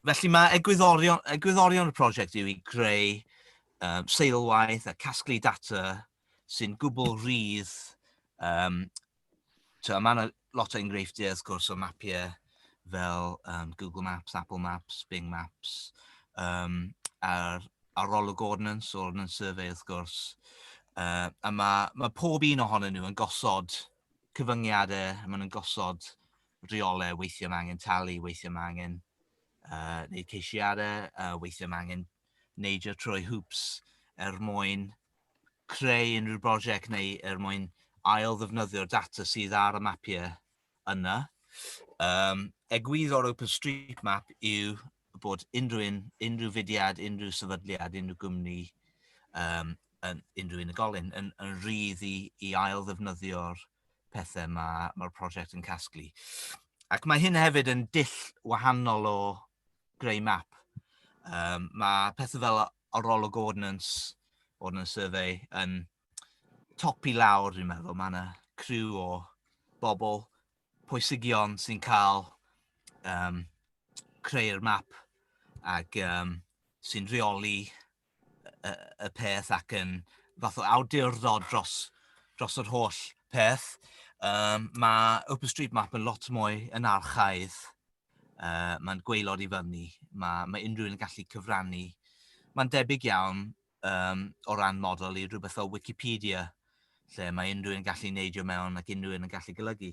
Felly mae egwyddorion, egwyddorion y prosiect yw i greu um, seilwaith a casglu data sy'n gwbl rhydd. Um, mae yna lot o enghreifftiau wrth gwrs o mapiau fel um, Google Maps, Apple Maps, Bing Maps, um, a'r arolwg ordnance, ordnance survey wrth gwrs. Uh, a mae, mae pob un ohonyn nhw yn gosod cyfyngiadau, maen nhw'n gosod rheolau, weithiau mae angen talu, weithiau mae angen uh, wneud ceisiadau, uh, weithiau mae angen neidio trwy hwps er mwyn creu unrhyw brosiect neu er mwyn ail ddefnyddio'r data sydd ar y mapiau yna. Um, egwyddor OpenStreetMap yw bod unrhyw, un, unrhyw fudiad, unrhyw sefydliad, unrhyw gwmni, um, yn, unrhyw unigolyn yn, yn rhydd i, i ail ddefnyddio'r pethau mae mae'r prosiect yn casglu. Ac mae hyn hefyd yn dull wahanol o greu map. Um, mae pethau fel arolwg ordnance, ordnance survey, yn top i lawr, dwi'n meddwl. Mae yna criw o bobl pwysigion sy'n cael um, creu'r map ac um, sy'n rheoli y peth ac yn fath o awdurdod dros, dros yr holl peth. Um, mae OpenStreetMap yn lot mwy yn archaidd. Uh, mae'n gweilod i fyny. Mae, mae unrhyw un yn gallu cyfrannu. Mae'n debyg iawn um, o ran model i rhywbeth fel Wikipedia, lle mae unrhyw un yn gallu neidio mewn ac unrhyw un yn gallu golygu.